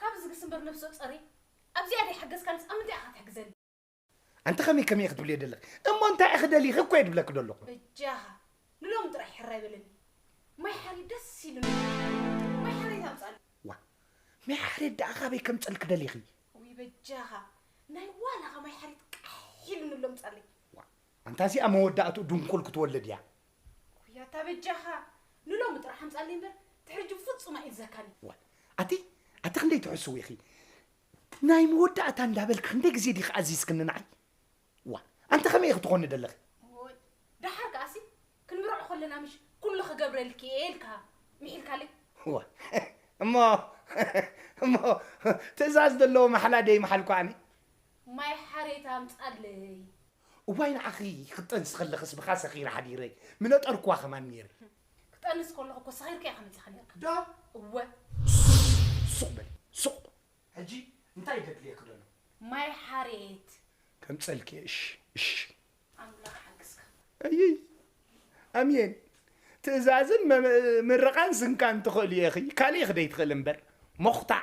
ካብ እዚ ግስምብር ነፍሶ ጸሪ ኣብዚኣ ደይ ሓገዝካንስ ኣብ ምንታይ ኢካ ትሕግዘኒ። ኣንቲ ከመይ ከመይ ኢኺ ትብልዮ ደለኺ እሞ እንታይ ኢኺ ደሊኺ እኮ እየ ድብለኪ ደለኹ። በጃኻ ንሎሚ ጥራይ ሕራይ በለኒ ማይ ሓሬት ደስ ኢሉኒ ማይ ሓሬት ኣምጻሊ። ዋእ ማይ ሓሬት ደኣ ካበይ ከምጸልኪ ደሊኺ። ውይ በጃኻ ናይ ዋላኻ ማይ ሓሬት ቃሕ ኢሉኒ ኣሎ ምጻለይ። ዋእ ኣንታ እዚኣ መወዳእትኡ ድንኩል ክትወልድ እያ ውይ ኣታ በጃኻ ንሎሚ ጥራሕ ኣምጻለይ እምበር ትሕጂ ብፍጹም ኣይእዘካን እዩ። ዋይ ኣቲ ኣቲ ክንደይ ትሕስው ኢኺ ናይ መወዳእታ እንዳበልኪ ክንደይ ግዜ ዲኺ ኣዚዝክኒ ንዓይ ዋ ኣንቲ ከመይ ኢኺ ትኾኒ ደለኺ ከለና ምሽ ኩሉ ክገብረልኪ እየ ኢልካ ምሒልካለይ እዋ እሞ እሞ ትእዛዝ ዘለዎ ማሕላ ደይምሓልኩ ኣነ ማይ ሓሬት ኣምጻለይ። እዋይ ንዓኺ ክትጠንሲ ከለኽስ ብኻ ሰኺረ ሓዲረ ምነጠርኩዋ ከማን ኔረ። ክጠንስ ከለኹ እኮ ሰኺርካ ኢኻ መጺኻ ኔርካ። ዶ? እወ። ሱቕ በሊ ሱቕ። ሕጂ እንታይ ደድልየኪ ደሎ? ማይ ሓሬት። ከምጸልኪ እየ እሺ እሺ። ኣምላኽ ይሓግዝካ። ኣይይ ኣምየን ትእዛዝን ምርቓን ስንካን ትኽእልዮ ኢኺ ካሊእ ክደይ ትኽእሊ እምበር ሞኽታዕ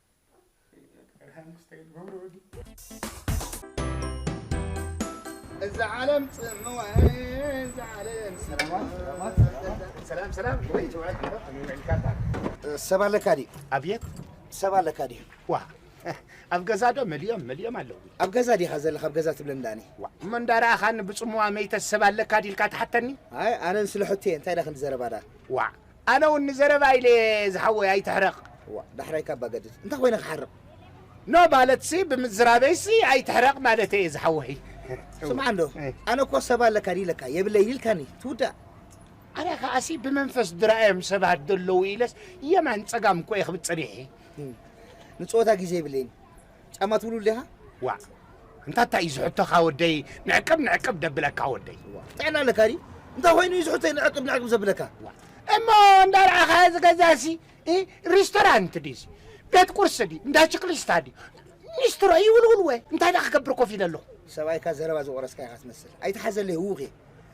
እዛ ዓለም ፅምዋ እዛ ዓለም ሰላም ሰላም ወይ ተባረክ ዓረብ ተመልካታ ሰብ ኣለካ ድዩ ኣብየት ሰብ ኣለካ ድዩ ዋ ኣብ ገዛ ዶ መሊኦም መሊኦም ኣለዉ ኣብ ገዛ ዲኻ ዘለካ ኣብ ገዛ ትብለን ዳኒ ዋ እሞ እንዳረኣኻኒ ብፅምዋ መይተ ሰብ ኣለካ ዲልካ ትሓተኒ ኣይ ኣነን ስለ ሕቶ እየ እንታይ ዳ ክንዲ ዘረባ ዳ ዋ ኣነ ውን ንዘረባ ኢለ እየ ዝሓወይ ኣይትሕረቅ። እዋእ ዳሕራይ ካብ ባገድድ እንታይ ኮይነ ክሓርቅ። ን ማለትሲ ብምዝራበይሲ ኣይትሕረቅ ማለተይ እየ ዝሓወይ። ስምዓ እንዶ ኣነ እኮ ሰብ ኣለካ ድዩ ኢለካ የብለይን ኢልካኒ ትውዳእ። ኣነ ከኣሲ ብመንፈስ ድራኣዮም ሰባት ደለዉ ኢለስ የማን ጸጋም እኮ እየ ክብል ጸኒሐ። ንጸወታ ግዜ የብለይን። ጫማ ትብሉ ዲኻ ዋዕ እንታ እንታይ እዩ ዝሕቶኻ ወደይ ንዕቅብ ንዕቅብ ደብለካ ወደይ ጥዕና ኣለካ ድዩ እንታይ ኮይኑ እዩ ዝሕቶ ንዕቅብ ንዕቅብ ዘብለካ እሞ እንዳርኣኻዮ ዝገዛሲ ሪስቶራንት ድዩ ቤት ቁርሲ ድዩ እንዳ ችክሊስታ ድዩ ኒስትሮ ይውልውል ወ እንታይ ዳ ክገብር ኮፍ ኢለ ኣለኹ ሰብኣይካ ዘረባ ዝቆረስካ ኢኻ ትመስል ኣይትሓዘለይ ህውኽ እየ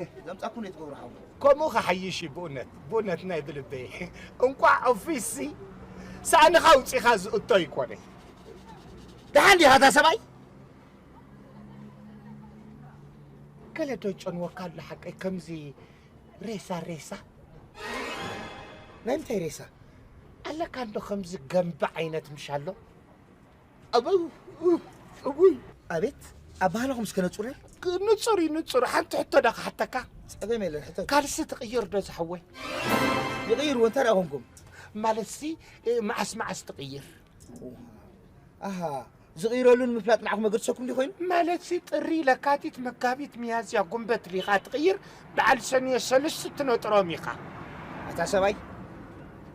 እህ ዘምጻኩም ነይ ትገብሩ ሓው ከምኡ ክሓይሽ እዩ ብኡነት ብኡነት ናይ ብልበይ እንቋዕ ኦፊስሲ ሳእንኻ ኣውጺኻ ዝእቶ ይኮነ ደሓን ዲኻ እታ ሰብኣይ ገለ ዶ ጨንወካ ኣሎ ሓቀይ ከምዚ ሬሳ ሬሳ ናይ ምንታይ ሬሳ ኣለካ እንዶ ከምዚ ገምቢ ዓይነት ምሻሎ እውይ ኣቤት ኣባህላኹም እስከ ነጹረይ ንጹር እዩ ንጹር ሓንቲ ሕቶ ዳ ክሓተካ ጸገም የለን ሕቶ ካልሲ ትቕይር ዶ ዝሓወይ ይቕይርዎ እንታይ ደኣ ኮንኩም ማለት ሲ መዓስ መዓስ ትቕይር ኣሃ ዝቕይረሉን ምፍላጥ ንዓኹም መገድሰኩም ዲ ኮይኑ ማለት ሲ ጥሪ ለካቲት መጋቢት ሚያዝያ ጉንበት ዲኻ ትቕይር በዓል ሰኑየ ሰልስት ትነጥሮም ኢኻ። ኣታ ሰብኣይ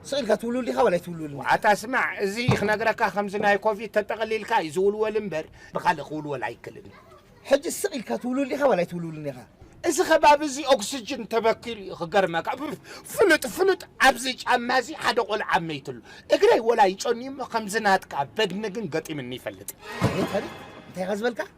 ስቅ ኢልካ ትውልውል ዲኻ ወላ ኣይትውልውልን ኢኻ። ኣታ ስማዕ እዚ ክነግረካ ከምዚ ናይ ኮቪድ ተጠቅሊልካ እዩ ዝውልወል እምበር ብካልእ ክውልወል ኣይክልን እዩ። ሕጂ ስቅ ኢልካ ትውልውል ዲኻ ወላ ኣይትውልውልን ኢኻ። እዚ ከባቢ እዚ ኦክስጅን ተበኪሉ እዩ ክገርመካ እፍ ፍሉጥ ፍሉጥ ኣብዚ ጫማ እዚ ሓደ ቆልዓ መይትሉ እግረይ ወላ ይጨንዩ እሞ ከምዚ ናትካ በድኒ ግን ገጢምኒ ይፈልጥ። ኣቤት ኣቤት እንታይ ኢኻ ዝበልካ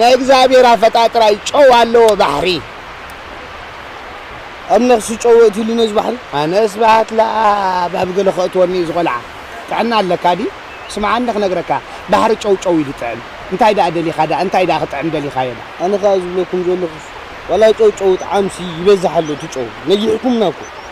ናይ እግዝኣብሄር ኣፈጣጥራ እዩ ጨው ኣለዎ ባሕሪ። ኣብ ነኽሲ ጨው የእትዩሉ ነዚ ባሕሪ። ኣነ ስብሃት ለኣብ ኣብ ገለ ከእትወኒ እዩ ዝቆልዓ ጥዕና ኣለካ ድዩ ስምዓኒ ክነግረካ ባሕሪ ጨው ጨው ኢሉ ጥዕም እንታይ ደኣ ደሊካ ደኣ እንታይ ደኣ ክጥዕም ደሊካዮ ደኣ። ኣነ ከኣ ዝብለኩም ዘለኩስ ዋላ ጨው ጨው ይጥዓምሲ ይበዝሕ ኣሎ እቲ ጨው ነጊሕኩምና እኮ።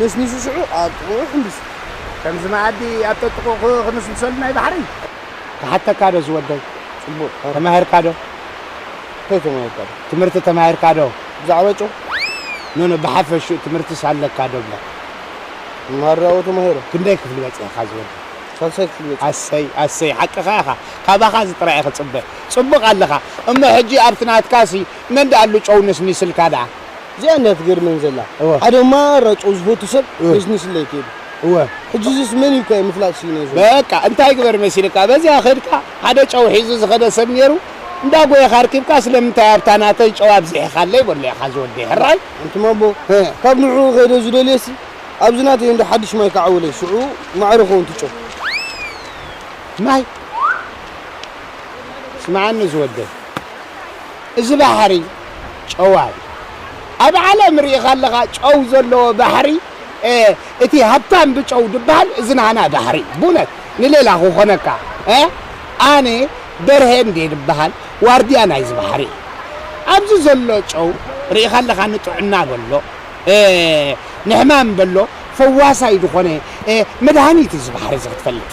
ነስኒሱ ሽዑ ኣብ ጥቕኡ ሕንቢሱ። ከምዚ መኣዲ ኣብ ጠጥቑ ክነስንሰሉ ናይ ባሕረይ። ክሓተካዶ ዝወደይ ጽቡቕ ተማሂርካዶ ከይ ተማሂርካዶ ትምህርቲ ተማሂርካዶ ብዛዕባ ጨው ኖኖ ብሓፈሽኡ ትምህርትስ ኣለካ ዶብለ መሃራኡ ተማሂረ። ክንደይ ክፍሊ በጺሕካ ዝወደይ። ሳልሳይ ክፍሊ በጺሐ። ኣሰይ ኣሰይ ሓቅኻ ኢኻ ካባኻ እዚ ጥራይ እየ ክጽበ ጽቡቕ ኣለኻ እሞ ሕጂ ኣብቲ ናትካሲ መን ድኣሉ ጨው ነስኒስልካ ድኣ። እዚኣ እንድያ ትገርመኒ ዘላ ሓደ ማራጮ ዝፈቱ ሰብ ነሽንሽ ለይ ከይዱ እወ ሕጂ እዚስ መን እዩ እኳ ምፍላጥ ስኢነ ዘሎ በቃ እንታይ ግበር መሲልካ በዚኣ ከድካ ሓደ ጨው ሒዙ ዝኸደ ሰብ ኔሩ እንዳ ጎየኻ ኣርኪብካ ስለምንታይ ኣብታ ናተይ ጨው ኣብዚሒኻለይ በሎ ኢኻ ዝወደይ ሕራይ ኣንቱማቦ ካብ ንዕኡ ከይደ ዝደልየሲ ኣብዚ ናተይ እንዶ ሓድሽ ማይ ክዓውለይ ሽዑ ማዕረ ይኸውን እቲ ጨው ማይ ስምዓኒ ዝወደይ እዚ ባሕሪ ጨው ኣዩ ኣብ ዓለም ሪኢኻ ኣለኻ ጨው ዘለዎ ባሕሪ እቲ ሃብታም ብጨው ድባሃል እዚ ናህና ባሕሪ ቡነት ንሌላ ክኾነካ ኣነ በርሄ እንዴ ድባሃል ዋርድያ ናይዚ ባሕሪ እየ ኣብዚ ዘሎ ጨው ሪኢኻ ኣለኻ ንጥዕና በሎ ንሕማም በሎ ፈዋሳይ ዝኾነ መድሃኒት እዚ ባሕሪ እዚ ክትፈልጥ።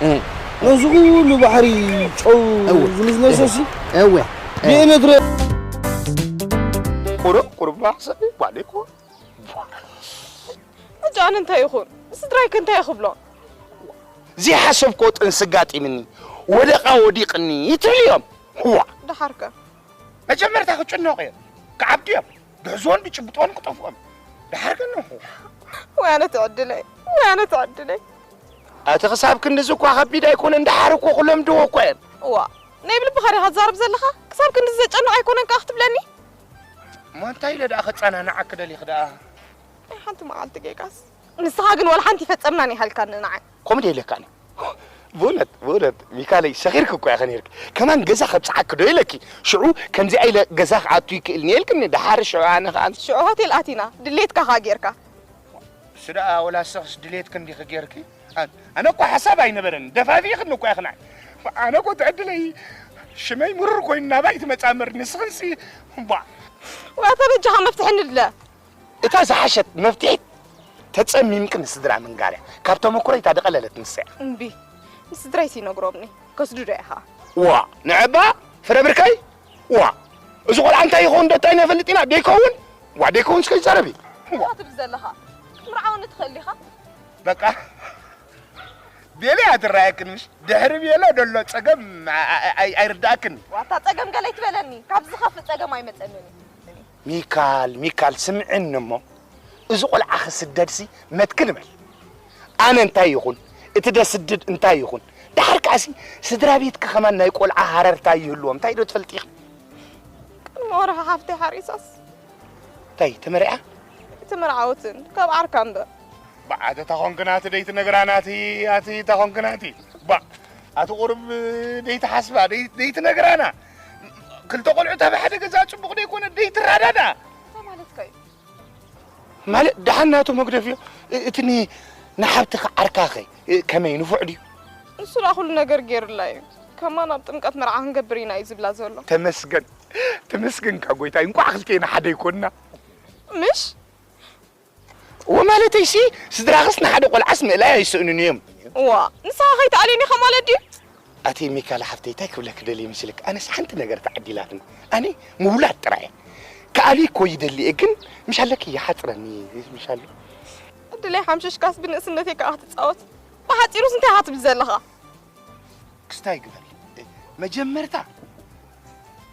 ነዚ ኩሉ ባሕሪ ጨው ዝንዝነሶሲ እወ ብኤሌክትሪክ ቁሩብ ቁሩብ ንሓሰብ ጓለይ እኮ ሕጂ ኣነ እንታይ ይኹን ንስድራይ ከ እንታይ ክብሎም ዘይሓሰብክዎ ጥንሲ ኣጋጢምኒ ወደቓ ወዲቕኒ ትብልዮም ዋ ደሓርከ መጀመርታ ክጭነቑ እዮም ክዓብዱ እዮም ብሕዞን ብጭብጦን ክጠፍኦም ድሓር ከነኹ ወይ ኣነ ትዕድለይ ወይ ኣነ ትዕድለይ ኣቲ ክሳብ ክንድዚ እኳ ከቢድ ኣይኮነን ድሓር እኮ ክለምድዎ እኳ እየን እዋ ናይ ብልብኻ ዲኻ ትዛረብ ዘለኻ ክሳብ ክንድዚ ዘጨንቕ ኣይኮነን ከኣ ክትብለኒ እሞ እንታይ ኢለ ደኣ ከጸናንዓ ክደሊኽ ደኣ ናይ ሓንቲ መዓልቲ ጌጋስ ንስኻ ግን ዋላ ሓንቲ ይፈጸምና ኒሃልካኒ ንዓይ ኮሜዲ የድልየካን እዩ ብእውነት ብእውነት ሚካለይ ሰኺርኪ እኮ ኢኺ ነይርኪ ከማን ገዛ ከብጽሓኪ ዶ ኢለኪ ሽዑ ከምዚኣ ኢለ ገዛ ክኣቱ ይክእል እየ ኢልክኒ ደሓር ሽዑ ኣነ ከኣ ሽዑ ሆቴል ኣቲና ድሌትካ ከኣ ጌርካ እሱ ደኣ ወላ ንስኽስ ድሌትኪ እንዲኺ ጌርኪ ኣነ እኮ ሓሳብ ኣይነበረን ደፋፊእክኒ እኮ ኢኺ ንዓይ ኣነ እኮ ትዕድለይ ሽመይ ምሩር ኮይኑ ናባይ ትመጽኣ እምበር ንስኽንሲ እባ ዋታ በጃኻ መፍትሒ ንድለ እታ ዝሓሸት መፍትሒት ተጸሚምኪ ንስድራ ምንጋርያ ካብ ተመኩሮይ እታ ዝቐለለት ንሰያ። እምቢ ንስድራይ ሲነግሮምኒ ከስድዶ ኢኻ። ዋእ ንዕባ ፍረ ብርከይ ዋእ እዚ ቆልዓ እንታይ ይኸውን ዶ ታይ ነፈልጥ ኢና ደይከውን ዋ ደይከውን ስከ ይዛረብ እዩ እንታይ ትብል ዘለኻ ክትምርዓውኒ ትኽእል ኢኻ በቃ ቤለ እያ ትረኣየክን ምሽ ድሕሪ ቤለ ደሎ ፀገም ኣይርዳእክን ዋታ ፀገም ገለ ይትበለኒ ካብዚ ዝኸፍእ ፀገም ኣይመፀንን እዩ ሚካል ሚካል ስምዕኒ እሞ እዚ ቆልዓ ክስደድሲ መትክል በል ኣነ እንታይ ይኹን እቲ ደስድድ እንታይ ይኹን ዳሓር ከዓሲ ስድራ ቤትኪ ከማን ናይ ቆልዓ ሃረርታ ይህልዎም እንታይ ዶ ትፈልጢ ኢኺ ቅድሚ ወርሒ ሓፍተይ ሓሪሳስ እንታይ ተመሪዓ እቲ መርዓውትን ካብ ዓርካ እምበር ባዓተ ታኾንክናቲ ደይቲ ነግራናቲ ኣቲ ታኾንክናቲ ባ ኣቲ ቁርብ ደይቲ ሓስባ ደይቲ ነግራና ክልተ ቆልዑት ኣብ ሓደ ገዛ ፅቡቕ ዶ ይኮነ ደይትረዳዳ ማለት ደሓን ናቱ መግደፍ እዮ እቲ ንሓብትኻ ዓርካኸ ከመይ ንፉዕ ድዩ ንሱ ዳኣ ኩሉ ነገር ገይሩላ እዩ ከማን ኣብ ጥምቀት መርዓ ክንገብር ኢና እዩ ዝብላ ዘሎ ተመስገን ተመስገንካ ጎይታይ እንኳዕ ክልቴና ሓደ ይኮንና ምሽ እወ ማለተይሲ ስድራኽስ ንሓደ ቆልዓስ ምእላይ ኣይስእኑን እዮም። እዋእ ንስኻ ከይትኣልየኒ ኢኻ ማለት ድዩ? ኣቲ ሚካላ ሓፍተይ ታይ ክብለኪ ደልየ መስልኪ ኣነስ ሓንቲ ነገር ተዓዲላትኒ ኣነ ምውላድ ጥራይ እየ ክኣልይ እኮ ይደሊ እየ ግን ምሽ ኣለኪ ይሓፅረኒ እዩ ምሽ ኣሎ ዕድለይ ሓምሽሽካስ ብንእስነተይ ከዓ ክትፃወት ብሓፂሩስ እንታይ ኢኻ ትብል ዘለኻ? ክስታይ ግበሪ መጀመርታ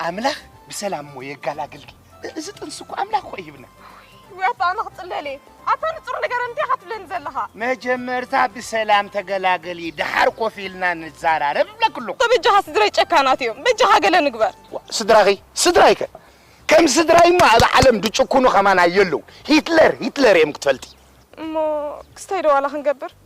ኣምላኽ ብሰላም እሞ የጋላግልኪ እዚ ጥንሲ እኮ ኣምላኽ እኮ ይህብና ወይ ኣታ ኣነ ክፅለል እየ ኣታ ንፁር ነገር እንታይ ኢኻ ትብለኒ ዘለኻ መጀመርታ ብሰላም ተገላገሊ ደሓር ኮፍ ኢልና ንዘራረብ እብለክ ኣለኹ በጃኻ ስድረይ ጨካናት እዮም በጃኻ ገለ ንግበር ስድራኺ ስድራይከ ከም ስድራይ እሞ ኣብ ዓለም ድጭኩኑ ከማና የለው ሂትለር ሂትለር እዮም ክትፈልጢ እሞ ክስታይ ዶ ዋላ ክንገብር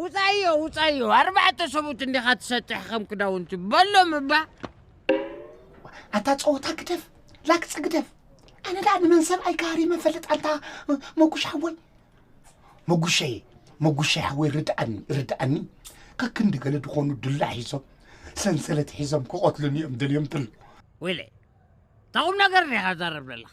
ውፃዮ ውፃዮ ኣርባዕተ ሰቡት እንዲኻ ትሰጥሕ ከም ክዳውንቲ በሎም እባ ኣታ ፀወታ ግደፍ ላግፂ ግደፍ ኣነ ደኣ ንመን ሰብኣይ ካህሪ መፈልጥ ኣታ መጉሽ ሓወይ መጉሸይ መጉሸይ ሓወይ ርድኣኒ ርድኣኒ ከክንዲ ገለ ዝኾኑ ድላዕ ሒዞም ሰንሰለት ሒዞም ክቐትሉኒ እዮም ደልዮም ተሎ ወይለይ ታቑም ነገር ዲኻ ዛረብ ዘለኻ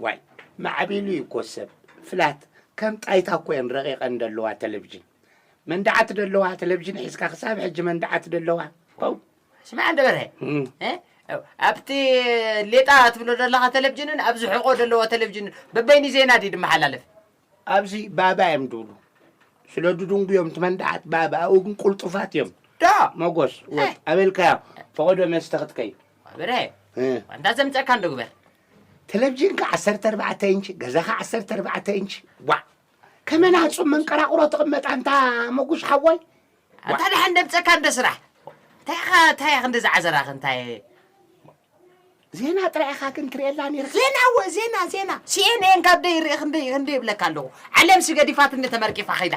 ዋይ ማዕቢሉ እዩ እኮ ሰብ ፍላት ከም ጣይታ እኮ እየን ረቂቀን ደለዋ ተለቭጅን መንድዓት ደለዋ ተለቭጅን ሒዝካ ክሳብ ሕጂ መንድዓት ደለዋ ው ስማዕ እንደ በርሀ እም፣ እ? ኣብቲ ሌጣ ትብሎ ዘለኻ ተለቭጅንን ኣብዚ ሕቆ ዘለዎ ተለቭጅንን በበይኒ ዜና ድዩ ድመሓላለፍ ኣብዚ ባባ እዮም ድብሉ ስለ ድድንጉ እዮም ትመንድዓት ባባ ኣብኡ ግን ቁልጡፋት እዮም ዶ መጎስ ወጥ ኣበልካዮ ፈቐዶ መስተ ክትከይ በርሀ እ፣ ዋንታ ዘምፀእካ እንዶ ግበር ተለቭዥንካ ዓሰርተ ኣርባዕተ ኢንች ገዛኻ ዓሰርተ ኣርባዕተ ኢንች ዋ ከመን ኣጹም መንቀራቑሮ ትቕመጥ ኣንታ መጉሽ ሓወይ ኣንታ ደሓን ደብፀካ እንደ ስራሕ እንታይ ኢኻ እንታይ ኢኻ እንደዚ ዓዘራኽ እንታይ ዜና ጥራይ ኢኻ ግን ትርእየላ ነይርካ ዜና ወ ዜና ዜና ሲኤንኤን ካብ ደይ ርኢ ክንደይ ክንደይ ይብለካ ኣለኹ ዓለም ስገዲፋትኒ ተመርቂፋ ኸይዳ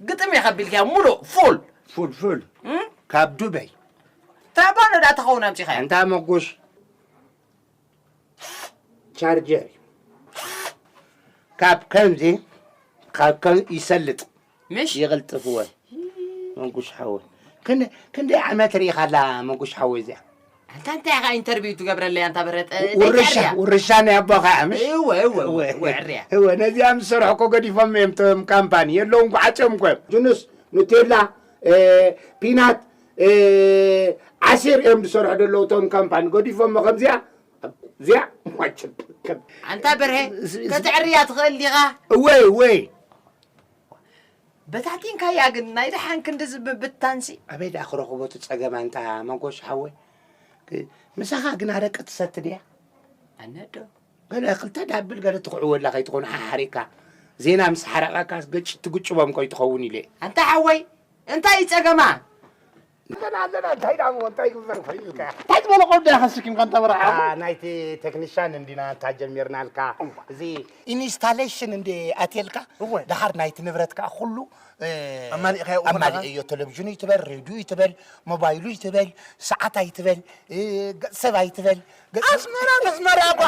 ግጥም ኢኻ ቢልካዮ ሙሉእ ፉል። ፉል ፉል ካብ ዱበይ። ታይ ባዶ ድኣ ተኸውን ኣምጺኻዮ። ኣንታ መጉሽ ቻርጀር ካብ ከምዚ ካብ ከም ይሰልጥ ምሽ ይቕልጥፍወ መጉሽ ሓወይ ክንደይ ዓመት ርኢኻላ መጉሽ ሓወይ እዚኣ ኣንታ እንታይ ኢኻ ኢንተርቪው ትገብረለይ ኣንታ ብረት ውርሻ ውርሻ ናይ ኣቦኻ እያ ምሽ እወ እወ እወ እወ ዕርያ እወ ነዚኣ ምስ ሰርሑ እኮ ገዲፎም እዮም ቶም ካምፓኒ የለውን ጓዓፅዮም እኮ እዮም ጅኑስ ኑቴላ ፒናት ዓሲር እዮም ዝሰርሑ ደለዉ ቶም ካምፓኒ ገዲፎሞ ከምዚኣ እዚኣ ማችብ ኣንታ በርሀ ከተዕርያ ትኽእል ዲኻ እወይ እወይ በታቲንካያ ግን ናይ ደሓን ክንድዚ ምብታንሲ። ኣበይ ደኣ ክረኽቦ እቲ ጸገም ኣንታ ሞጎስ ሓወይ ምሳኻ ግና ኣረቂ ትሰቲ ድያ ኣነ ዶ ገለ ክልተ ዳብል ገለ ትኽዕወላ ከይትኾኑ ሓሓሪቕካ ዜና ምስ ሓረቐካስ ገጭ ትግጭቦም ቆይ ትኸውን ኢለ ኣንታ ሓወይ እንታይ እዩ ጸገማ ንሕና ኣለና እንታይ ደኣ እሞ እንታይ ይግበር ኮይኑ ኢልካ እንታይ ዝበለ ቆልዶ ኢኻ ስኪምካ እንተ በረሓ ናይቲ ቴክኒሻን እንዲና እንታ ጀሚርናልካ እዚ ኢንስታሌሽን እንደ ኣትየልካ ደሓር ናይቲ ንብረት ከዓ ኩሉ ኣማሊእካዮ እኮ ኣለኻ። ኣማሊእዮ ቴሌቪዥኑ ይትበል ሬድዩ ይትበል ሞባይሉ ይትበል ሰዓት ኣይትበል እ፣ ገጽ ሰብ ኣይትበል ኣስመራ ነስመራ እኳ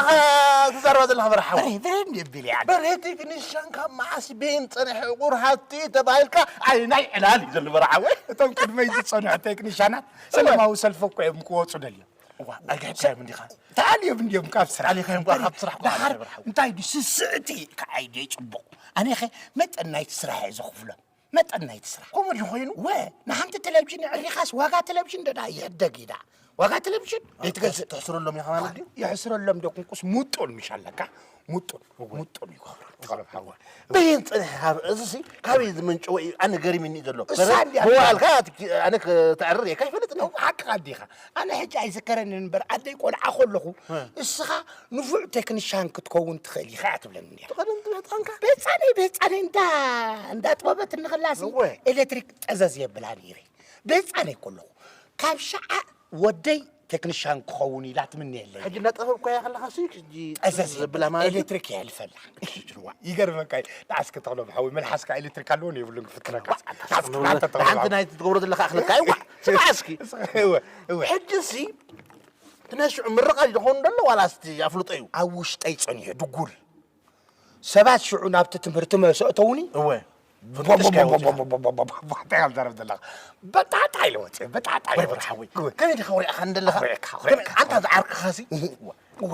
ትዛረባ ዘለካ በረ ሓወይ በረድ የብል እያ በረ ቴክኒሻን ካብ መዓስ ቤን ፀንሐ ዕቑር ሃፍቲ ተባሂልካ ዓይናይ ዕላል እዩ ዘሎ በረ ሓወይ እቶም ቅድመይ ዝፀንሑ ቴክኒሻናት ሰለማዊ ሰልፊ እኮ እዮም ክወፁ ደልዮም እዋ ኣይግሕካዮም እንዲኻ ተኣልዮም እንዲዮም ካብ ስራሕ ኣሊኻዮም ኳ ካብ ስራሕ ዳሓር እንታይ ድዩ ስስዕቲ ከዓይ ድየ ፅቡቕ ኣነኸ መጠን ናይቲ ስራሕ እየ ዘኽፍሎም መጠን ናይቲ ስራሕ ከምኡ እንተኾይኑ ወ ንሓንቲ ቴሌቭዥን የዕሪኻስ ዋጋ ቴሌቭዥን ደኣ ይሕደግ እዩ ደኣ ዋጋ ቴሌቭዥን ዘይትገዝእ ትሕስረሎም ኢኻ ማለት ድዩ የሕስረሎም ዶ ክንቁስ ሙጡን ምሽ ኣለካ ሙጡን ሙጡን ይገብሩ በየን ፅንሕ ካብ እዚሲ ካበይ ዝምንጭወ እዩ ኣነ ገሪምኒ እዩ ዘሎ መዋእልካ ኣነ ተዕርር እየ ካይፈልጥ ነ ሓቅኻ ዲኻ ኣነ ሕጂ ኣይዝከረኒ እምበር ኣደይ ቆልዓ ከለኹ እስኻ ንፉዕ ቴክኒሻን ክትከውን ትኽእል ኢኻ እያ ትብለኒ ፍቕርን ዝበፅሐንካ በፃነይ በፃነይ እንዳ እንዳጥበበት እንኽላሲ ኤሌክትሪክ ጠዘዝ የብላ ነይረ በፃነይ ከለኹ ካብ ሸዓ ወደይ ቴክኒሻን ክኸውን ኢላ ትምንየለይ ሕጂ እናጠበብኳ እያ ከለካ ሲ ሕጂ ጠዘዝ ዘብላ ማለት ኤሌክትሪክ እያ ልፈላ ይገርመካ እዩ ንዓስኪ ተኽሎ ብሓዊ መልሓስካ ኤሌክትሪክ ኣለዎን የብሉን ክፍትነካ ሓንቲ ናይ ትገብሮ ዘለካ ኣኽለካ እዩ ስማዕ እስኪ ሕጂ ሲ ግና ሽዑ ምርቓ ጆኾኑ ደሎ ዋላስ እቲ ኣፍልጦ እዩ? ኣብ ውሽጠይ ጸኒሑ ድጉል ሰባት ሽዑ ናብቲ ትምህርቲ ምስ ኣእተዉኒ እወ ብጥሽካ ኢየ ወጺኣ። እንታይ ኢኻ ትዛረብ ዘለኻ በጣዕጣዕ ኢለ ወጺኤ በጣዕጣዕ ኢለ ወጺኤ። ከመይ ዲኻ ኩሪዕካ እንደለኻ ኣንታ ዝዓርክኻሲ እወ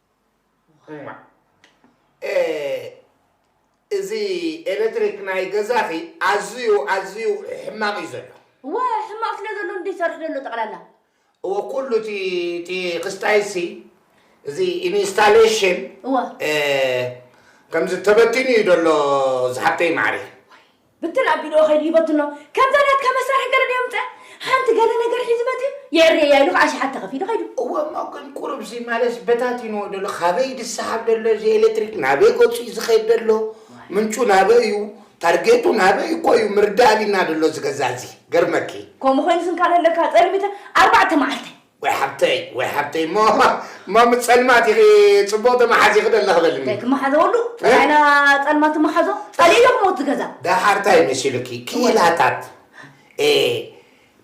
እዚ ኤለትሪክ ናይ ገዛኺ ኣዝዩ ኣዝዩ ሕማቕ እዩ ዘሎ። እወ ሕማቕ ስለ ዘሎ እንዶ ይሰርሕ ዘሎ ጠቕላላ። እወ ኩሉ እቲ እቲ ክስታይሲ እዚ ኢንስታሌሽን እወ ከምዚ ተበቲኑ እዩ ዘሎ ዝሓብተይ ማዕሪ። ብትን ኣቢልዎ ከይዱ ይበትኖ ከምዛ ናትካ መሳርሒ ገለ ዶ የምጽእ ሓንቲ ገለ ነገር ሒዙ መጺኡ የዕርየያ ኢሉ ከኣ ኣሽሓት ተኸፊሉ ከይዱ። እወ እሞ ግን ቁሩብ እዚ ማለትስ በታቲንዎ ዶ ኣሎ ካበይ ዝሰሓብ ዶ ኣሎ እዚ ኤለትሪክ ናበይ ገጹ እዩ ዝኸይድ ዘሎ ምንጩ ናበይ እዩ ታርጌቱ ናበይ እኮ እዩ ምርዳእ ኣቢልና ዶ ኣሎ እዚ ገዛ እዚ ገርመኪ። ከምኡ ኮይኑ ስንካለ ኣለካ ጸልሚተ ኣርባዕተ መዓልተይ። ወይ ሓብተይ ወይ ሓብተይ እሞ እሞ ምስ ጸልማት ኢኺ ጽቡቕ ተመሓዚኺ ዶ ኣለኺ በልኒ። እንታይ ክመሓዘወሉ ጥራይና ጸልማት እመሓዞ ጸሊእ ዶ ክመውት ዝገዛ። ደሓር እንታይ መሲሉኪ ክኢላታት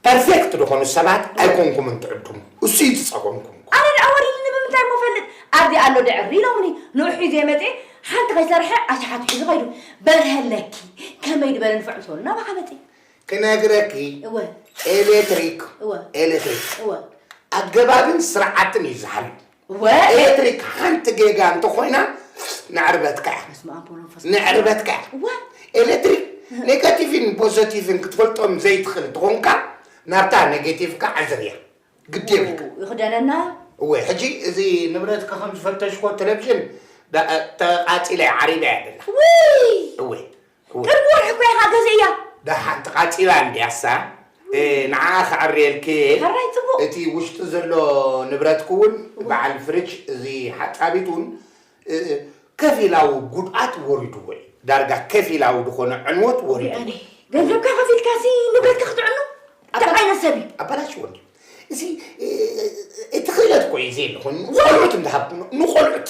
ፐርፌክት ዝኾኑ ሰባት ኣይኮንኩምን ትዕድሙ እሱ እዩ ዝጸገምኩም። ኣነ ድኣ ወሪድኒ ብምንታይ እሞ እፈልጥ ኣብዚ ኣሎ ድዕሪ ኢሎምኒ ንዑ ሒዜ መጼ ሓንቲ ከይሰርሐ ኣሽሓት ሒዙ ከይዱ በርሀለኪ ከመይ ድበለ ንፍዕ ምስ በሉኒ ናባኻ መጼ። ክነግረኪ እወ ኤሌክትሪክ እወ ኤሌክትሪክ እወ ኣገባብን ስርዓትን እዩ ዝሓሉ እወ ኤሌክትሪክ ሓንቲ ጌጋ እንተኾይና ንዕርበትካ እያ በስመ ኣብ ወወልድ ወመንፈስ ንዕርበትካ እያ እወ ኤሌክትሪክ ኔጋቲቭን ፖዘቲቭን ክትፈልጦም ዘይትኽእል እንትኾንካ ናብታ ኔጌቲቭካ ዓዘብ እያ ግድ የብልካ ይኽደነና እወ ሕጂ እዚ ንብረትካ ከም ዝፈተሽኮ ቴሌቭዥን ዳ- ተቃፂለ እያ ዓሪበ እያ ደላ ውይ እወ ቅርብ ወርሒ እኮ ኢኻ ገዚእያ። ደሓን ተቓጺላ እንድያሳ ንዓኣ ከዐርየልኪ እየ። ሕራይ ጽቡቕ። እቲ ውሽጢ ዘሎ ንብረትኪ እውን በዓል ፍርጅ እዚ ሓጻቢት እውን ከፊላዊ ጉድኣት ወሪዱዎ እዩ። ዳርጋ ከፊላዊ ዝኾነ ዕንወት ወሪዱዎ እዩ። ገንዘብካ ከፊልካሲ ንብረትካ ክትዕኑ እንታይ ዓይነት ሰብ እዩ? ኣባላሽዎ እንድዩ እዚ እቲ ክእለት እኮ እዩ ዘየለኹ ንቖልዑት እንዳሃብኩ ንቖልዑት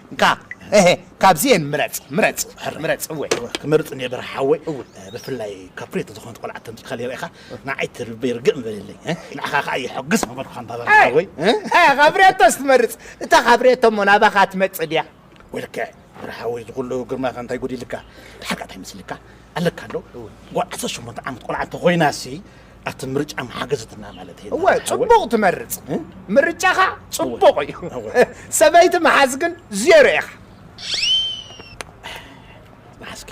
እንካ እህ ካብዚኤን ምረጽ ምረጽ ምረጽ እወ ክመርጽ እንየ ብርሃ ሓወይ እው ብፍላይ ካብ ፍሬት ዝኾነት ቆልዓ ተምጺኻ ሊረኢኻ ንዓይ ትርበይ ርግእ ምበለለይ ንዓኻ ከዓ የሐግስ ምበልኩኻ እንባ ብርሃ ሓወይ ካብ ፍሬቶስ ትመርጽ እታ ካብ ፍሬቶ እሞ ናባኻ ትመጽእ ድያ ወይ ልክዕ ብርሃ ሓወይ ዝኹሉ ግርማኻ እንታይ ጎዲልካ ድሓር ከዓ እንታይ መስልካ ኣለካ ኣሎ ጓል ዓሰርተ ሸሞንተ ዓመት ቆልዓ እንተኾይናሲ ኣቲ ምርጫ መሓገዝትና ማለት እዩ እወ ጽቡቕ ትመርጽ ምርጫኻ ጽቡቕ እዩ ሰበይቲ መሓዝ ግን ዜሮ ኢኻ መሓዝኪ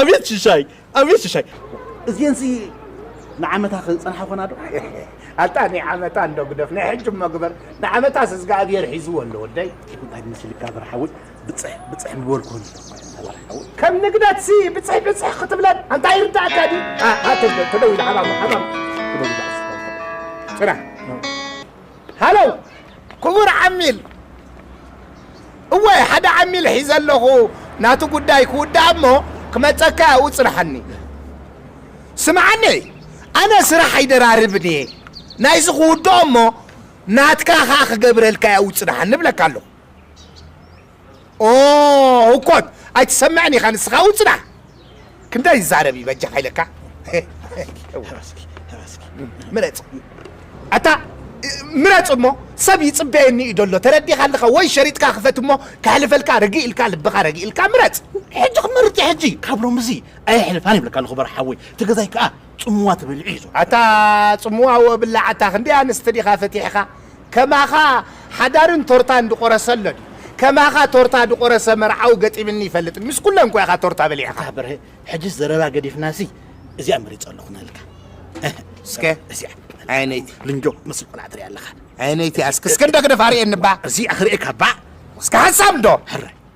ኣቤት ሽሻይ ኣቤት ሽሻይ እዚኤን ሲ ንዓመታ ክንጸንሓ ኮና ዶ ኣታ ናይ ዓመታ እንዶ ግደፍ ናይ ሕጂ እሞ ግበር ንዓመታ ስዝጋኣብሄር ሒዝዎ ኣሎ ወደይ እንታይ መስልካ ብርሓዊ ብጽሕ ብጽሕ ምበልኩ ከም ንግደት ሲ ብጽሕ ብጽሕ ክትብለን ኣንታይ ይርዳእካ ዲ ተደዊሉ ሓባም ሓባም ጭራ ሃለው ክቡር ዓሚል እወ ሓደ ዓሚል ሒዘ ኣለኹ ናቱ ጉዳይ ክውዳእ እሞ ክመጸካ ኣብኡ ጽንሓኒ ስምዓኒ ኣነ ስራሕ ኣይደራርብን እየ ናይዚ ክውድኦ እሞ ናትካ ከኣ ክገብረልካ ኣብኡ ጽንሓኒ እብለካ ኣለኹ ኦ ህኮት ኣይትሰምዕን ኢኻ ንስኻ ኣው ጽናሕ ክንደይ ይዛረብ እዩ በጃኻ ኢለካ ምረጽ ኣታ ምረጽ እሞ ሰብ ይጽበየኒ እዩ ደሎ ተረዲኻ ኣለኻ ወይ ሸሪጥካ ክፈት እሞ ከሕልፈልካ ርግእ ኢልካ ልብኻ ረጊእልካ ምረጽ ሕጂ ክመርጥ ሕጂ ካብ ሎምዚ ኣየሕልፋን ይብለካ ኣለኹ በርሓወይ እቲ ገዛይ ከዓ ጽምዋ ትበልዒ እዩ ዘሎ። ኣታ ጽምዋ ወብላዕ ኣታ ክንደይ ኣንስቲ ዲኻ ፈቲሕኻ ከማኻ ሓዳርን ቶርታን ድቆረሰ ኣሎ ድዩ ከማኻ ቶርታ ድቆረሰ መርዓዊ ገጢምኒ ይፈልጥ ምስ ኩለን እኮ ኢኻ ቶርታ በሊዕኻ። ኣታ በርሀ ሕጅስ ዘረባ ገዲፍናሲ እዚኣ መሪጸ ኣለኹ ንህልካ እስከ እዚኣ ዓይነይቲ ልንጆ ትመስል ቆልዓ ትሪኣ ኣለኻ ዓይነይቲ ኣስክ እስከ እንዶ ግደፍ ኣርእየኒ እባ እዚኣ ክርእየካ እባ እስከ ሓሳብ እንዶ ሕራይ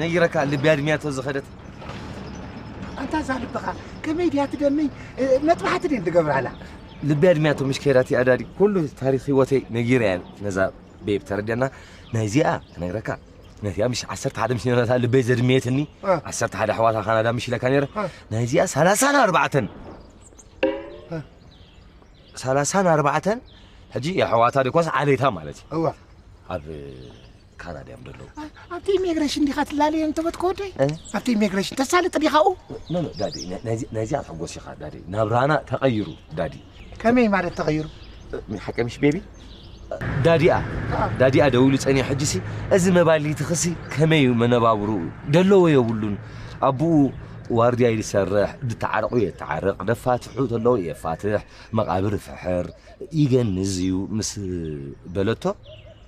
ነጊረካ ልቢ ኣድሚያ ተዝኸደት ኣንታ እዛ ልብኻ ከመይ ድያ ትደምይ መጥባሕቲ ድን ትገብራላ ልቢ ኣድሚያቶ ምሽ ከይዳቲ ኣዳዲ ኩሉ ታሪክ ህይወተይ ነጊረያ ነዛ ቤብ ተረድያና ናይዚኣ ክነግረካ ነቲኣ ምሽ ዓሰርተ ሓደ ምስ ነረታ ልበይ ዘድመየትኒ ዓሰርተ ሓደ ኣሕዋታ ካናዳ ምሽ ኢለካ ነረ ናይዚኣ ሰላሳን ኣርባዕተን ሰላሳን ኣርባዕተን ሕጂ የሕዋታ ደኮስ ዓሌታ ማለት እዩ ኣብ ካና ድያም ደለዉ ኣብቲ ኢሚግሬሽን ዲኻ ትላለየ እንተበት ከወደይ ኣብቲ ኢሚግሬሽን ተሳልጥ ዲኻኡ ኖኖ ዳዲ ናይዚ ኣትሕጎስ ኢኻ ዳዲ ናብራና ተቐይሩ ዳዲ ከመይ ማለት ተቐይሩ ሓቂ ምሽ ቤቢ ዳዲኣ ዳዲኣ ደውሉ ጸኒሕ ሕጂሲ እዚ መባሊቲ ክሲ ከመይ እዩ መነባብሩ ደለዎ የብሉን ኣቦኡ ዋርድያ ይሰርሕ ድተዓረቑ የተዓርቕ ደፋትሑ ተለዉ የፋትሕ መቓብር ፍሕር ይገንዝ እዩ ምስ በለቶ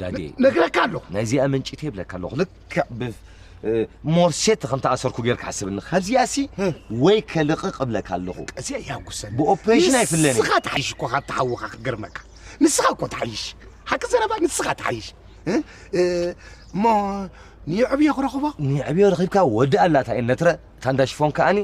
ዳዴ ነግረካ ኣለኹ ናይዚኣ መንጭት የብለካ ኣለኹ ልክዕ ብ ሞርሴት ከም ተኣሰርኩ ጌር ክሓስብኒ ካብዚኣ ሲ ወይ ከልቕቕ እብለካ ኣለኹ ቀዚኣ ያጉሰኒ ብኦፕሬሽን ኣይፍለኒ ንስኻ ትሓይሽ እኮ ካብ ተሓውኻ ክገርመካ ንስኻ እኮ ትሓይሽ ሓቂ ዘረባ ንስኻ ትሓይሽ እሞ ንየዕብዮ ክረኽቦ ንየዕብዮ ረኺብካ ወዲ ኣላታ እየ ነትረ እታ እንዳ ሽፎን ከኣኒ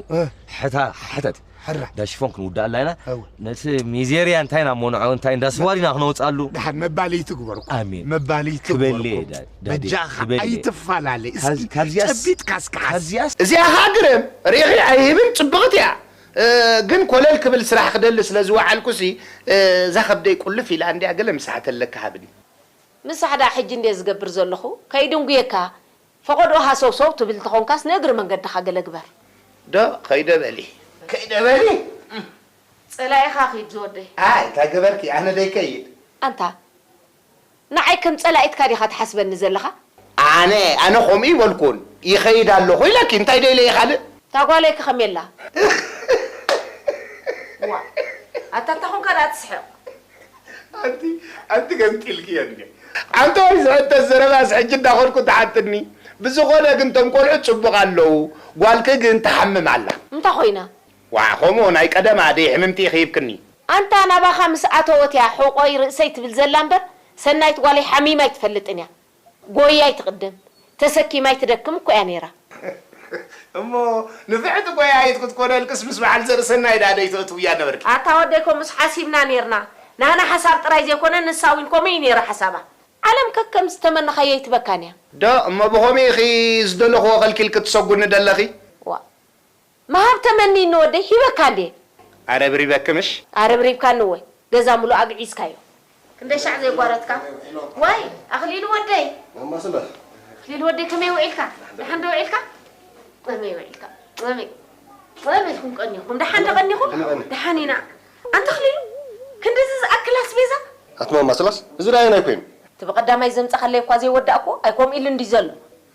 ሕታ ሕተት ሕራይ እንዳ ሽፎን ክንውድኣላ ኢና እወ ነቲ ሚዜርያ እንታይ ኢና ሞንዖ እንታይ እንዳ ስዋር ኢና ክነውፅኣሉ ድሓር መባልይ ትግበርኩ ኣሜን። መባልይ ክበልየ ትግበርኩ ዳ- ዳዴ፣ በጃኻ ክበልየ። ኣይትፈላለ ካብ- እስኪ ካብዚኣስ- ጨቢጥካ እስኪ ሓስ ካብዚኣስ እዚኣ ከኣ ግርም ሪኺ ኣይህብን ጽብቕቲ እያ እ፣ ግን ኮለል ክብል ስራሕ ክደሊ ስለ ዝወዓልኩሲ እ፣ እዛ ከብደይ ቁልፍ ኢላ እንድያ ገለ ምስ ሓተለኪ ሃብኒ። ንሳሕ ደኣ ሕጂ እንድየ ዝገብር ዘለኹ ከይድንጉየካ ፈቐድኦ ሃሰውሰው ትብል እንተኾንካስ ንእግሪ መንገድኻ ገለ ግበር። ዶ ከይደ በሊ ከይደ በሊ እም ጸላኢኻ ኪድ ዝወደይ። ኣይ እንታይ ገበርኪ ኣነ ደይከይድ። ኣንታ ንዓይ ከም ጸላኢትካ ዲኻ ትሓስበኒ ዘለኻ? ኣነ ኣነ ከምኡ እይበልኩን ይኸይድ ኣለኹ ኢለኪ እንታይ ደይለ እየ ካልእ። እታ ጓለይ ከ ከመይ ኣላ? ዋእ ኣታ እንታኾንካ ደኣ ትስሕቕ። ኣንቲ ኣንቲ ገምጢልኪ እየ እንዴ ኣንታ ወይ ዝሕተት ዘረባስ ሕጂ እንዳኸድኩ ትሓትኒ ብዝኾነ ግን ቶም ቆልዑት ጽቡቕ ኣለዉ ጓልኪ ግን ትሓምም ኣላ። እንታይ ኮይና? ዋእ ከምኡ ናይ ቀደም ኣደይ ሕምምቲ ኢኺ ሂብክኒ። ኣንታ ናባኻ ምስ ኣተወት እያ ሕቆይ ርእሰይ ትብል ዘላ እምበር ሰናይት ጓለይ ሓሚማ ኣይትፈልጥን እያ። ጎያይ ትቕድም ተሰኪማ ኣይትደክም እኮ እያ ነይራ። እሞ ንፍዕቲ ጎያይት ክትኮነልክስ ምስ በዓል ዘርእሰናይ ደኣ ደይተእትውያን ነበርኪ? ኣታ ወደይ ኮምኡስ ሓሲብና ኔርና ናህና ሓሳብ ጥራይ ዘይኮነ ንሳ ዊን ኮምኡ ኢዩ ኔሩ ሓሳባ። ዓለም ከከም ዝተመነኻዮ ኣይትበካን እያ። ዶ እሞ ብኸምኡ ኢኺ ዝደለኽዎ ከልኪልኪ ትሰጉኒ ደለኺ? ዋእ ምሃብ ተመንይኒ ወደይ ሂበካ እንድየ። ኣረብሪበኪ ምሽ? ኣረብሪብካኒ እወ ገዛ ምሉእ ኣግዒዝካዮ። ክንደይ ሻዕ ዘይጓረትካ ዋይ ኣኽሊሉ ወደይ። ማማ ስለ። ኣኽሊሉ ወደይ ከመይ ውዒልካ ደሓን ዶ ውዒልካ ከመይ ውዒልካ ከመይ ከመይ ኢልኩም ቀኒኹም ደሓን ዶ ቀኒኹም ደሓን ኢና ኣንታ ኣኽሊሉ ክንድዚ ዝኣክል ኣስቤዛ። ኣቲ ማማ ስላስ እዚ ድኣ ኣየናይ ኮይኑ። እቲ ብቀዳማይ ዘምጻኻለይ እኳ ዘይወዳእክዎ ኣይኮምኡ ኢሉ እንድዩ ዘሎ።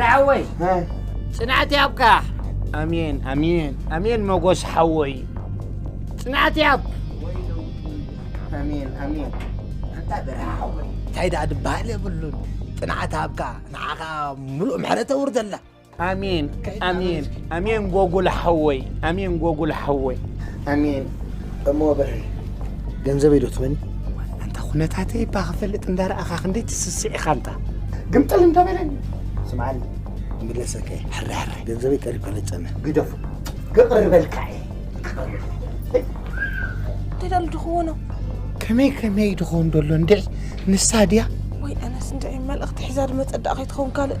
ራዕወይ ፅንዓት ያብካ ኣሜን ኣሜን ኣሜን መጎስ ሓወይ ፅንዓት ያብ ኣሜን ኣሜን ኣንታ ብርሃ ሓወይ እንታይ ደኣ ድበሃል የብሉን ፅንዓት ሃብካ ንዓኻ ምሉእ ምሕረት ኣውርደላ ኣሜን ኣሜን ኣሜን ጎጉል ሓወይ ኣሜን ጎጉል ሓወይ ኣሜን እሞ ብሪ ገንዘበይ ዶ ትበኒ ኣንታ ኩነታተይ እባ ክፈልጥ እንዳረኣኻ ክንደይ ትስስዕ ኢኻ እንታ ግምጥል እንተበለኒ ስምዓኒ ምለሰከ ሕራሕረ ገንዘበይ ቀሪብካ ለጨመ ግደፉ ክቕርበልካ እየ ደዳሉ ድኽዎኖ ከመይ ከመይ ድኾን ደሎ እንድዒ ንሳ ድያ ወይ ኣነስ እንድዒ መልእኽቲ ሒዛ ድመፀዳእ ከይትኸውን ካልእ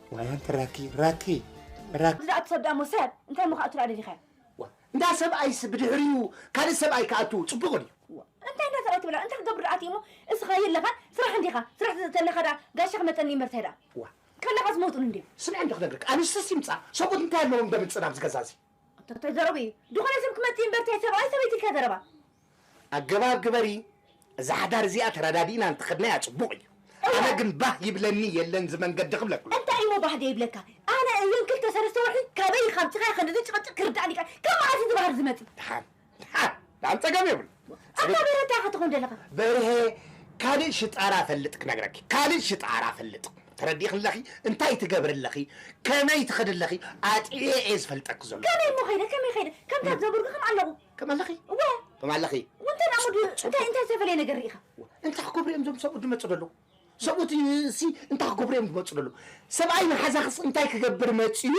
ዋይ ኣንቲ ራኪ ራኪ ራኪ እዛ እትሰብ ደኣሞ ሰብ እንታይ እሞ ክኣቱራ ደሊኻ እንዳ ሰብኣይስ ብድሕሪኡ ካልእ ሰብኣይ ክኣቱ ጽቡቕ ድዩ እንታይ እንዳ ሰብኣይ ትብላ እንታይ ክገብር ደኣ እሞ እስኻ የለኻን ስራሕ እንዲኻ ስራሕ ተለኻ ደኣ ጋሻ ክመጸኒ ይምርተ ደኣ ዋ ከለኻ ዝመውጥሉ እንድዮም ስምዕ እንዶ ክነግርክ ኣንስትስ ይምጻ ሰብኡት እንታይ ኣለዎም እንዶ ምጽናብ ዝገዛዚ ኣታ ታይ ዘረቡ እዩ ድኾነ ሰብ ክመጽእ እምበር ታይ ሰብኣይ ሰበይቲ ኢልካ ዘረባ። ኣገባብ ግበሪ እዛ ሓዳር እዚኣ ተረዳዲእና እንተኸድናያ ጽቡቕ እዩ ኣነ እወ። ግን ባህ ይብለኒ የለን ዝመንገዲ ክብለኩም። እንታይ እዩሞ ባህ ደይብለካ ኣነ እዘን ክልተ ሰለስተ ወርሒ ካበይ ኢካ ኣምጺካዮ ክንድዚ ጭቅጭቅ ክርዳኣኒ ይክኣል ካብ መዓስ እዩ እዚ ባህሪ ዝመጺ። ድሓን ጸገም የብሉ ኣታ በርሀ እንታይ ኢኻ ትኾን ዘለኻ? በርሀ ካልእ ሽጣራ ፈልጥ ክነግረኪ ካልእ ሽጣራ ፈልጥ ተረዲእኺ ኣለኺ እንታይ ትገብሪ ኣለኺ ከመይ ትኸዲ ኣለኺ ኣጥዕየ እየ ዝፈልጠኪ ዘሎ ከመይ እሞ ኸይደ ከመይ ኸይደ ከምታ ዘጉርጊ ከም ኣለኹ ከም ኣለኺ እወ ከም ኣለኺ ውንተን ኣሙድ እንታይ እንታይ ዝተፈለየ ነገር ርኢኻ እንታይ ክገብሩ እዮም እዞም ሰብኡት ዝመፁ ዘለዉ ሰብኡት እሲ እንታይ ክገብሩ እዮም ዝመፁ ዘለዉ ሰብኣይ ንሓዛኽስ እንታይ ክገብር መፅዩ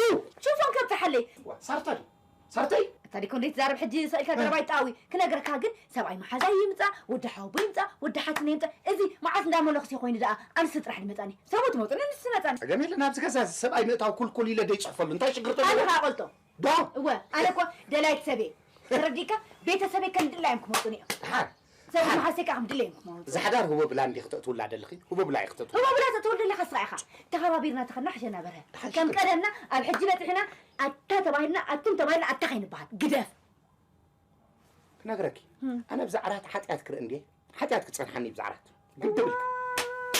ሽፎን ከብፅሓለይ ሳርታ ድዩ ሰርተይ እታ ዲኮ እንዴት ዛርብ ሕጂ ሰቂልካ ዘረባ ይጣዊ ክነግረካ ግን ሰብኣይ መሓዛይ ይምጻእ ወዲ ሓወቦ ይምጻእ ወዲ ሓትነ ይምጻእ እዚ መዓስ እንዳ መለኹስየ ኮይኑ ደኣ ኣንስቲ ጥራሕ ድመጻኒ ሰብኡት መጹኒ ኣንስቲ መጻኒ ጸገም የለን ኣብዚ ገዛ እዚ ሰብኣይ ምእታው ኩልኩል ኢለ ደይጽሕፈሉ እንታይ ሽግር ተሎ ኣነ ከኣ ቆልጦ ዶ እወ ኣነ እኮ ደላይት ሰብየ ተረዲእካ ቤተሰበይ ከም ድላዮም ክመጹኒ እዮም ድሓር ሰብኣይ መሓዝተይ ከኣ ከም ድለየን ክመውት። እዛ ሓዳር ሁበብላ እንዲኺ ተእትውላ ደለኺ ሁበብላ ኢኺ ተእትውላ። ህቦብላ ተእትወሉ ደለኻ ስራዕ ኢኻ። ተኸባቢርና ተኸድና ሕሸና በርሀ። ደሓን ከም ሽኮር። ቀደምና ኣብ ሕጂ በጺሕና ኣታ ተባሂልና ኣቱም ተባሂልና ኣታ ከይንበሃል። ግደፍ። ክነግረኪ ኣነ ብዛዕራት ሓጢኣት ክርኢ እንድየ ሓጢኣት ክጸንሓኒ ብዛዕራት። ግድብልክን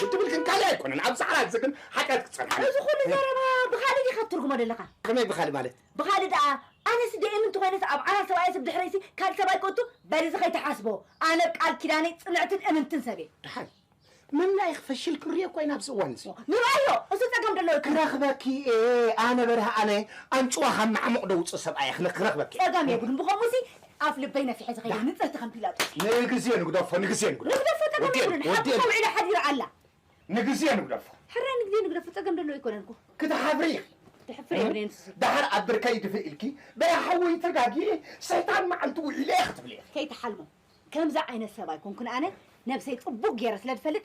ግድብልክን ካልእ ኣይኮነን ኣብ ጻዕራ እዚ ግን ሓጢኣት ክጸንሓኒ እዩ። እዚ ኩሉ ዘረባ ብኻልእ ዲኻ ትትርጉሞ ደለኻ? ከመይ ብኻልእ ማለት? ብኻልእ ደኣ ኣነሲ ደኤ ምንቲ ኮይነስ ኣብ ዓራት ሰብኣየስብ ድሕረይሲ ካልእ ሰብኣይ ክእቱ በል እዚ ከይትሓስቦ ኣነ ብ ቃል ኪዳነይ ጽንዕትን እምንትን ሰብ እየ። ደሓን ምምናይኽ ፈሽል ክንሪኦ እኳ ኢና ኣብዚ እዋን እዚ። ንርኣዮ እዚ ጸገም ዶ ኣሎ ኢልካ? ክረኽበኪ እየ ኣነ በርሀ ኣነ ኣንጭዋ ካብ መዓሙቕ ዶ ውጹእ ሰብኣይ እየ ክረኽበኪ እየ። ጸገም የብሉን ብኸምኡሲ ኣፍ ልበይ ነፊሐ ዝኸይድ ንጽልቲ ከም ፒላጦስ። ንግዜ ንግደፎ ንግዜ ንግደፎ። ንግደፎ ጸገም ኣይኮነን ሓቁ ወዲኤን ወዲኤን ተውዒላ ሓዲራ ኣላ። ንግዜ ንግደፎ። ሕራይ ንግዜ ንግደፎ ጸገም ደለዎ ኣይኮነን እኮ። ክትሓፍሪ ኢኺ። ድሕፍር የብለይን ንሱ ዝብል። ደሓር ኣብ ብርከይ ይድፍእ ኢልኪ በይ ሓወይ ተጋግየ ሰይጣን መዓልቲ ውዒለ ክትብሊ ኢኺ። ከይትሓልሙ ከምዚ ዓይነት ሰብ ኣይኮንኩን ኣነ ነብሰይ ጽቡቅ ጌረ ስለ ዝፈልጥ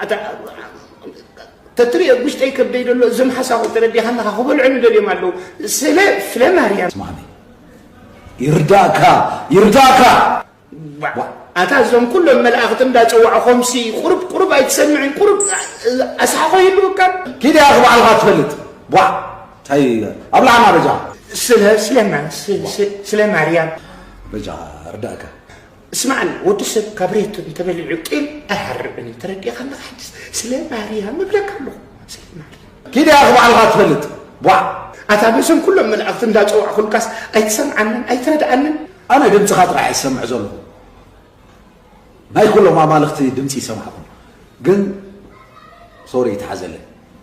ኣታ ተትሪኦ ኣብ ውሽጠይ ከብደይ ዘሎ እዞም ሓሳኹ ተረዲኻ ኣለኻ ክበልዑ ንደልዮም ኣለዉ ስለ ፍለ ማርያም ስማኒ ይርዳእካ ይርዳእካ ኣታ እዞም ኩሎም መላእኽቲ እንዳፀዋዑ ከምሲ ቁርብ ቁርብ ኣይትሰምዕን ቁርብ ኣስሓኾ ይህልወካ ኪድ ያኺ ባዕልኻ ትፈልጥ ቧ እንታይ ኣብ ላዕና በጃ ስለ ስለማን ስለ ማርያም በጃ ርዳእካ ስማዕኒ ወዲ ሰብ ካብ ሬት እንተበሊዑ ጢል ኣይሃርብን እዩ ተረዲእኻ ኣለኻ ሕጅስ ስለ ማርያም እብለካ ኣለኹ ስለ ማርያም ኪድ ያኺ ባዕልኻ ትፈልጥ ቧዕ ኣታ ነዞም ኩሎም መላእኽቲ እንዳጸዋዕኹልካስ ኣይትሰምዓንን ኣይትረድኣንን ኣነ ድምጽኻ ጥራሕ እየ ዝሰምዕ ዘለኹ ናይ ኩሎም ኣማልኽቲ ድምጺ ይሰማዕኩም ግን ሶሪ ይትሓዘለይ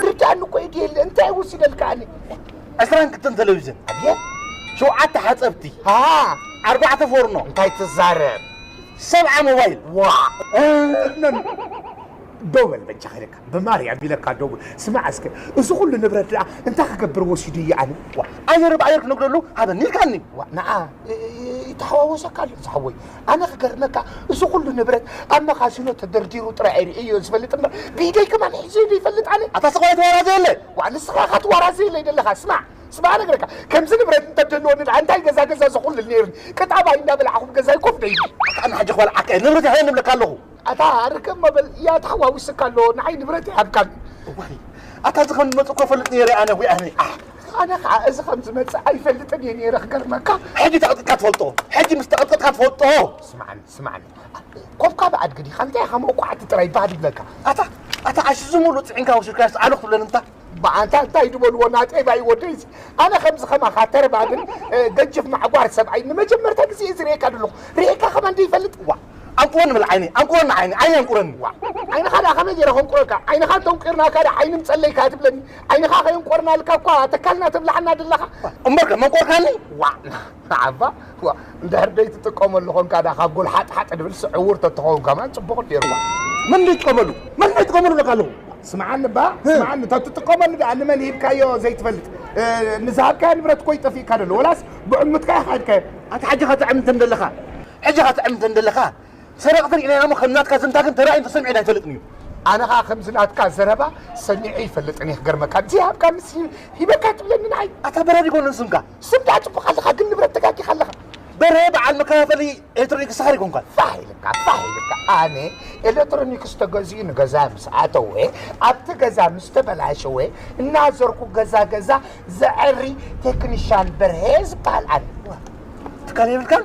ክዳን እኮ ኢድ የለ እንታይ ውስደልካ ኣነ ዕስራን ክልተን ቴሌቪዥን ኣብየት ሸውዓተ ሓፀብቲ ኣርባዕተ ፎርኖ እንታይ ትዛረብ ሰብዓ ሞባይል ዋ ደው በል በጃኻ ኢለካ ብማርያም ኢለካ ደው በል ስማዕ እስከ እዚ ኩሉ ንብረት ደኣ እንታይ ክገብር ወሲዱ እዩ ኣነ ኣየር ብኣየር ክነግደሉ ሃበኒ ኢልካኒ ንዓ ይተሓዋወሰካ ኣሎ ዝሓወይ ኣነ ክገርመካ እዚ ኩሉ ንብረት ኣብ መኻዚኖ ተደርዲሩ ጥራይ ሪኤዮ ዝፈልጥ እምበር ብኢደይ ከማን ሒዘዮ ዘይፈልጥ ኣነ። ኣታ ስቅ በል ኣይትዋራዘየለ ዋእ ንስኻ እኻ ትዋራዘየለይ ደለኻ ስማዕ ስማዕ እነግረካ ከምዚ ንብረት እንተደልወኒ ዳኣ እንታይ ገዛ ገዛ ዘኹልል ነይርኒ ቅጣባይ እንዳበላዕኹ ኣብ ገዛይ ኮፍ ደይ ኢለ ኣታ ኣነ ሕጂ ክበልዓካ እየ ንብረተይ ሃበኒ እብለካ ኣለኹ። ኣታ ኣርከብ መበል እያ ተሓዋዊስካ ኣሎ ንዓይ ንብረተይ ሃብካኒ። እዋይ ኣታ እዚ ከም ዝመጽእኩ እፈልጥ ነይረ ኣነ ዊይ ኣነ ኣሕ። ኣነ ከዓ እዚ ከም ዝመፅእ ኣይፈልጥን እየ ነይረ ክገርመካ። ሕጂ ተቐጥቂጥካ ትፈልጦ? ሕጂ ምስ ተቐጥቅጥካ ትፈልጦ? ስማዕኒ ስማዕኒ ኮፍካ ብኣድጊ ዲኻ እንታይ ኢኻ መውቃዕቲ ጥራይ ባህ ድብለካ ኣታ ኣታ ኣሽ እዚ ሙሉእ ፅዒንካ ወሲድካዮስ ኣሉ ክትብለን እንታ ብኣንታ እንታይ ድበልዎ ናጤባይ ወደይዚ ኣነ ከምዚ ከማኻ ተረባግን ገጅፍ ማዕጓር ሰብኣይ ንመጀመርታ ግዜ እዩ ዝርእየካ ዘለኹ ርኤካ ከማ እንደይፈልጥ ዋ ኣንቁረኒ በል ዓይነይ ኣንቁረኒ ዓይነይ ዓይነይ ኣንቁረኒ ዋ ዓይንኻ ደኣ ከመይ ገይረ ከንቁረካ ዓይንኻ እንተንቂርናካ ደኣ ዓይኒ ምፀለይካ ትብለኒ ዓይንኻ ከይንቆርናልካ እኳ ኣተካልና ትብላሓና ድለኻ። እምበርከ መንቆርካኒ? ዋእ ዓባ ዋእ እንድሕር ደይትጥቀመሉ ኮንካ ድኣ ካብ ጎል ሓጥ ሓጥ ድብል ስዕ ዕዉር ተትኸውን ከማን ጽቡቕ ኔሩ ዋእ። መን ደይጥቀመሉ መን ደይጥቀመሉ እብለካ ኣለኹ። ስምዓኒ እባ ስምዓኒ ተትጥቀመሉ ድኣ ንመን ሂብካዮ ዘይትፈልጥ ንዝሃብካዮ ንብረት እኮዩ ጠፊእካ ደሎ ወላስ ብዕሙትካ ኢኻ ሂብካዮ። ኣታ ሕጂ ከትዕም እንተ ደለኻ ሕጂ ከትዕም እንተ ደለኻ ሰረቅቲ ሪኢናዮ እሞ ከም ናትካ ዝምታ ግን ተራእዩን ተሰሚዑን ኣይፈልጥን እዩ። ኣነ ከኣ ከምዚ ናትካ ዘረባ ሰሚዐ ኣይፈልጥን እየ ክገርመካ ዘይሃብካንስ ሂበካ ትብለኒ ንዓይ። ኣታ በራድ ይኮነን ስምካ ስም ደኣ ጽቡቅ ኣለካ ግን ንብረት ተጋጊካ ኣለካ። በርሀ በዓል መከፋፈሊ ኤሌክትሮኒክስ ሰኸር ይኮንካን። ፋሕ ኢልካ ፋሕ ኢልካ ኣነ ኤሌክትሮኒክስ ተገዚኡ ንገዛ ምስ ኣተወ ኣብቲ ገዛ ምስ ተበላሸወ እናዘርኩ ገዛ ገዛ ዘዐሪ ቴክኒሻን በርሀ ዝበሃል ኣነ። ትካል የብልካን?